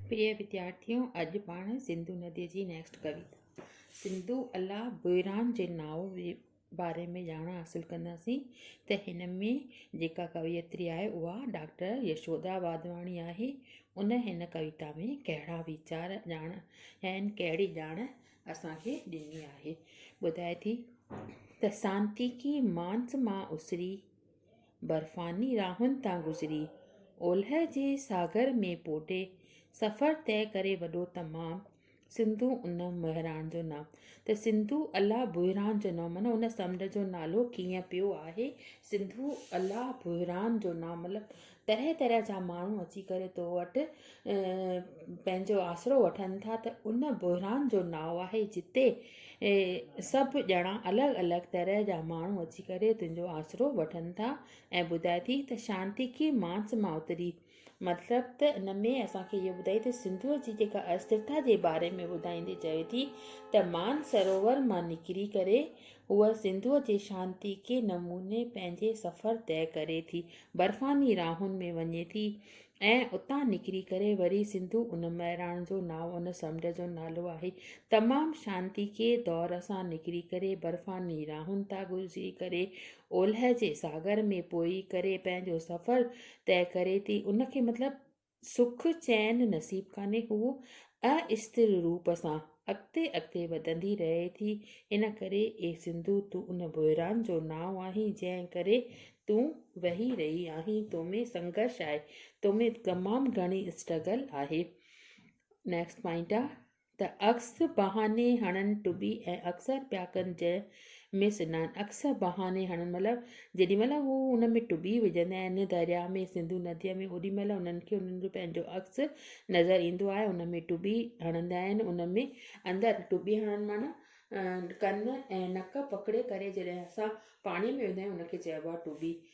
پريا وديارٿيو اڄ پاڻ سنڌو ندي جي نيڪسٽ ڪويتا سنڌو الله بئران جي ناء جي باري ۾ ڄاڻ حاصل ڪنداسين ته هن ۾ جيڪا ڪويتري آهي اها ڊاڪٽر يشودا واڌواڻي آهي ان هن ڪويتا ۾ ڪهڙا ويچار ڄاڻ ۽ ڪهڙي ڄاڻ اسان کي ڏني آهي ٻڌائي ٿي ته سانتيڪي مانس مان اسري برفاني راهن تان گذري، اولهه جي ساگر ۾ پوڍي سفر طئي ڪري وڏو تمام سنڌو ان مهراڻ جو نام ته سنڌو الله بحران جو نام معنيٰ ان سمنڊ جو نالو ڪيئن پيو آهي سنڌو الله بحران جو نام مطلب طرح طرح جا ماڻهو اچي ڪري تو وٽ پنهنجو آسرو وٺن ٿا ته ان بحران جو ناو آهي جتي سڀ ڄڻا الڳ الڳ طرح جا ماڻهو اچي ڪري تنهنجو آسرو وٺن ٿا ۽ ٻڌائي ٿي ته شانتي ڪي مانس ماوتري مطلب ته ان ۾ اسانکي اهو ٻڌائي ته سنڌوء جي جيڪا استرتا جي باري ۾ ٻڌائيندي چوي ٿي ته مان سروور مان نڪري ڪري هوء سنڌوء جي شانتي ڪي نموني پنهنجي سفر طئي ڪري ٿي. برفاني راهن ۾ وڃي ٿي ۽ اتان نڪري ڪري وري سنڌو ان مهراڻ جو نانء ان سمنڊ جو نالو آهي. تمام شانتي ڪي دور سان نڪري ڪري برفاني راهن تان گذري ڪري اولهه جي ساگر ۾ پوئي ڪري پنهنجو سفر طئي ڪري ٿي ان کي مطلب سک چين نصيب ڪانهي هوء استر روپ سان اڳتي اڳتي وڌندي رهي ٿي ان ڪري اي سنڌو تون ان بحران جو نانء آهين جنهن ڪري تون وهي رهي آهين تو ۾ سنگهرش آهي تو ۾ تمام گهڻي اسٽرگل آهي نيڪسٽ پوائنٽ آ ته عڪس بهاني هڻن ٽٻي ۽ اڪثر پيا ڪن جنهن ۾ سنان عڪس بهاني هڻن مطلب جيڏي مهل هو ان ۾ ٽٻي وجهندا آهن درياء ۾ سنڌو نديء ۾ اوڏي مهل انهن کي انهن جو پنهنجو عڪس نظر ايندو آهي ان ۾ ٽٻي هڻندا آهن ان ۾ اندر ٽٻي هڻن معنيٰ ڪن ۽ نڪ پڪڙي ڪري جڏهن اسان پاڻي ۾ ويندا آهيون ان کي چئبو آهي ٽٻي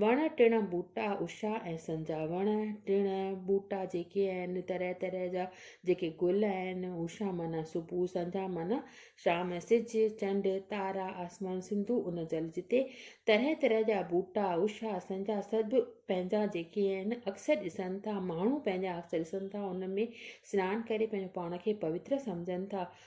وڻ ٽڻ ٻوٽا اشا ۽ سنجا وڻ ٽڻ ٻوٽا جيڪي آهن طرح طرح جا جيڪي گل آهن اشا معنيٰ صبح سنجا معنيٰ شام ۽ سج چنڊ تارا آسمان سنڌو ان جل جتي طرح طرح جا ٻوٽا اشا سنجا سڀ پنهنجا جيڪي آهن اڪثر ڏسن ٿا ماڻهو پنهنجا اڪثر ڏسن ٿا ان ۾ سنان ڪري پنهنجو پاڻ کي پوتر سمجهن ٿا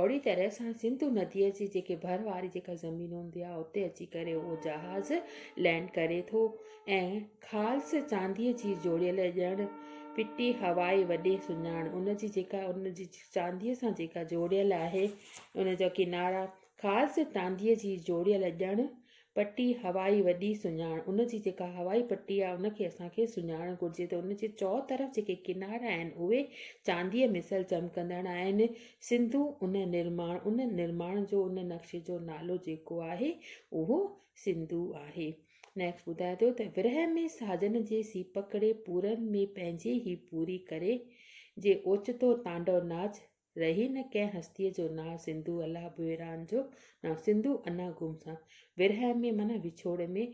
اهڙي طرح سان سنڌو نديء جي جيڪي ڀر واري جيڪا زمين هوندي آهي اتي اچي ڪري اهو جهاز لينڊ ڪري ٿو ۽ خالص چانديء جي جوڙيل ڄڻ پٽي هوائي وڏي سڃاڻ ان جي جيڪا ان جي چانديء سان جيڪا جوڙيل آهي ان جا ڪنارا خالص چانديء جي جوڙيل ڄڻ پٽي هوائي وڏي سڃاڻ ان جي جيڪا هوائي پٽي آهي ان کي اسان کي سڃاڻڻ گهرجي ته ان جي چئو طرف جيڪي ڪنارا آهن اهي چانديء مثل چمڪندڙ آهن سنڌو ان نرماڻ ان نرماڻ جو ان نقشي جو نالو جيڪو آهي اهو سنڌو آهي نيڪسٽ ٻڌائي ٿو ته ورهه ۾ ساجن جي سيپڪڙي پورن ۾ پنهنجي هي پوري ڪري جي اوچتو تانڊو ناچ رهي نه ڪنهن هستيء جو نانء سنڌو الله ڀوئران جو نانء سنڌو انا گم سان ورهه ۾ معنيٰ وڇوڙ ۾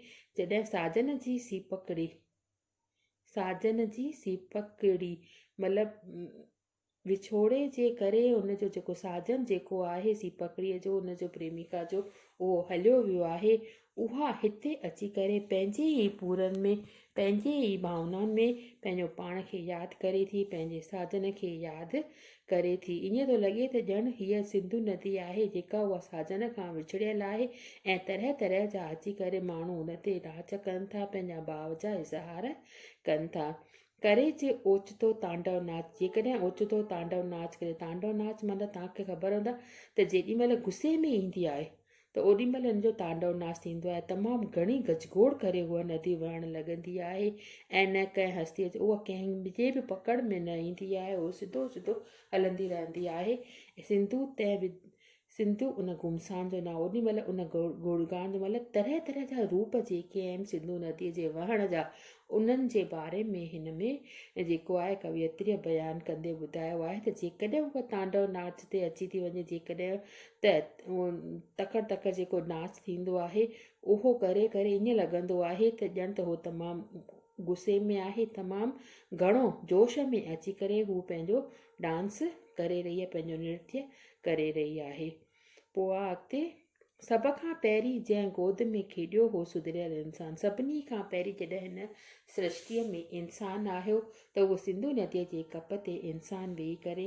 جڏهن ساجن جي سيپڪڙي ساجن جي سيپڪڙي مطلب وڇوڙي جي ڪري ان جو جيڪو ساجن جيڪو آهي سيپڪڙيء جو ان جو پريميڪا جو اهو هليو ويو آهي اها هتي اچي ڪري پنهنجي ئي پورن ۾، پنهنجي ئي ڀاونائن ۾ پنهنجو پاڻ کي ياد ڪري ٿي، پنهنجي ساجن کي ياد ڪري ٿي. ائين ٿو لڳي ته ڄڻ هيء سنڌو ندي آهي، جيڪا اها ساجن کان وڇڙيل آهي ۽ طرح طرح جا اچي ڪري ماڻهو ان تي ناچ ڪن ٿا، پنهنجا ڀاو جا اظهار ڪن ٿا. ڪري جي اوچتو تانڊو ناچ، جيڪڏهن اوچتو تانڊو ناچ ڪري، تانڊو ناچ معنيٰ توهان کي خبر هوندو ته جيڏي مهل غصي ۾ ايندي آهي، ته اوڏي مهل ان جو تانڊو ناس ٿيندو آهي، تمام گهڻي گجگوڙ ڪري هوء ندي وهڻ لڳندي آهي ۽ نه ڪنهن هستيء جو اها ڪنهن جي به پڪڙ ۾ نه ايندي آهي، هوء سڌو سڌو هلندي رهندي آهي. سنڌو تنهن به سنڌو ان گمسان جو نه اوڏي مهل ان گڙگان جو مطلب طرح طرح جا روپ جيڪي آهن سنڌو نديء جي وهڻ جا انهن جي باري ۾ هن ۾ جيڪو آهي ڪويتريء بيان ڪندي ٻڌايو آهي ته جيڪڏهن هوء تانڊو ناچ تي اچي ٿي وڃي جيڪڏهن ته تڪڙ تڪڙ جيڪو ناچ ٿيندو آهي اهو ڪري ڪري ائين لڳندو آهي ته ڄڻ ته هو تمام غصي ۾ آهي تمام گهڻو جوش ۾ اچي ڪري هو پنهنجو ڊانس ڪري رهي آهي پنهنجو نرتي ڪري رهي آهي پوء آ اڳتي سڀ کان پهرين جنهن گود ۾ کيڏيو هو سڌريل انسان سڀني کان پهرين جڏهن هن سرشتي ۾ انسان آهيو ته اهو سنڌو نديء جي ڪپ تي انسان ويهي ڪري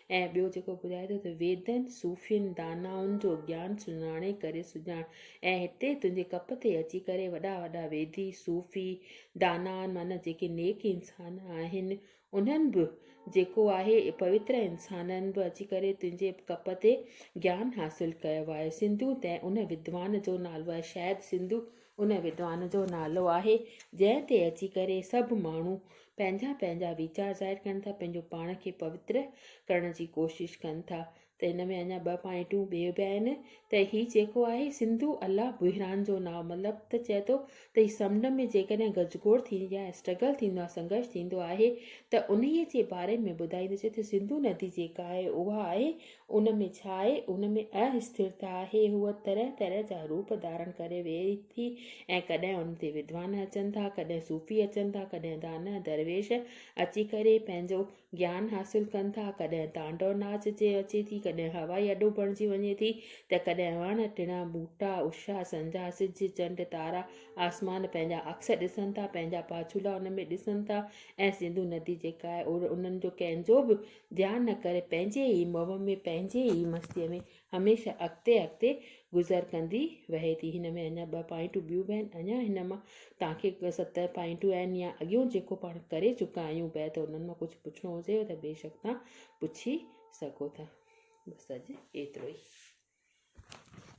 ۽ ٻيو جيڪو ٻڌائي ٿو ته ويدن، صوفين، دانائن جو گيان سڃاڻي ڪري سجاڻ ۽ هتي تنهنجي ڪپ تي اچي ڪري وڏا وڏا ويدي، صوفي، دانائن معنيٰ جيڪي نيڪ انسان آهن انهن به جيڪو آهي پوتر انسانن به اچي ڪري تنهنجي ڪپ تي گيان حاصل ڪيو آهي. سنڌو تنهن ان ودوان جو نالو آهي، شايد سنڌو ان ودوان جو نالو آهي جنهن تي اچي ڪري سڀ ماڻهو پنهنجا پنهنجا ويچار ظاهر ڪن ٿا، پنهنجو پاڻ کي پوتر ڪرڻ جي ڪوشش ڪن ٿا ته ان ۾ اڃا ٻه پوائنٽون ٻيو به آهن ته هي جيڪو آهي سنڌو الله بحران جو ناء مطلب ته چئي ٿو ته هي سمنڊ ۾ جيڪڏهن گجگوڙ ٿيندي آهي اسٽرگل ٿيندو آهي سنگرش ٿيندو آهي ته انهي جي باري ۾ ٻڌائيندو چئي ٿو سنڌو ندي جيڪا آهي اها آهي ان ۾ ڇا آهي؟ ان ۾ ااستھرتا آهي. هوء طرح طرح جا روپ ڌارڻ ڪري ويهي ٿي ۽ ڪڏهن ان تي ودوان اچن ٿا، ڪڏهن صوفي اچن ٿا، ڪڏهن دانهه درويش اچي ڪري پنهنجو گيان حاصل ڪن ٿا، ڪڏهن تانڊو ناچ جي اچي ٿي، ڪڏهن هوائي اڏو بڻجي وڃي ٿي ته ڪڏهن وڻ، ٽڻا، ٻوٽا، اشا، سنجا، سج، چنڊ، تارا، آسمان پنهنجا عڪس ڏسن ٿا، پنهنجا پاڇولا ان ۾ ڏسن ٿا ۽ سنڌو ندي جيڪا آهي انهن جو ڪنهن جو به ڌيان نه ڪري پنهنجي ئي موهه ۾ پنهنجي ئي مستيء ۾ هميشه اڳتي اڳتي گذر ڪندي وهي ٿي. هن ۾ اڃا ٻه پوائنٽون ٻيون به آهن. اڃا هن مان توهان کي ست پوائنٽون آهن يا اڳيون جيڪو پاڻ ڪري چڪا آهيون بيت انهن مان ڪجهه پڇڻو هجيو ته بيشڪ توهان پڇي سگهو ٿا. بس اڄ ايترو ئي.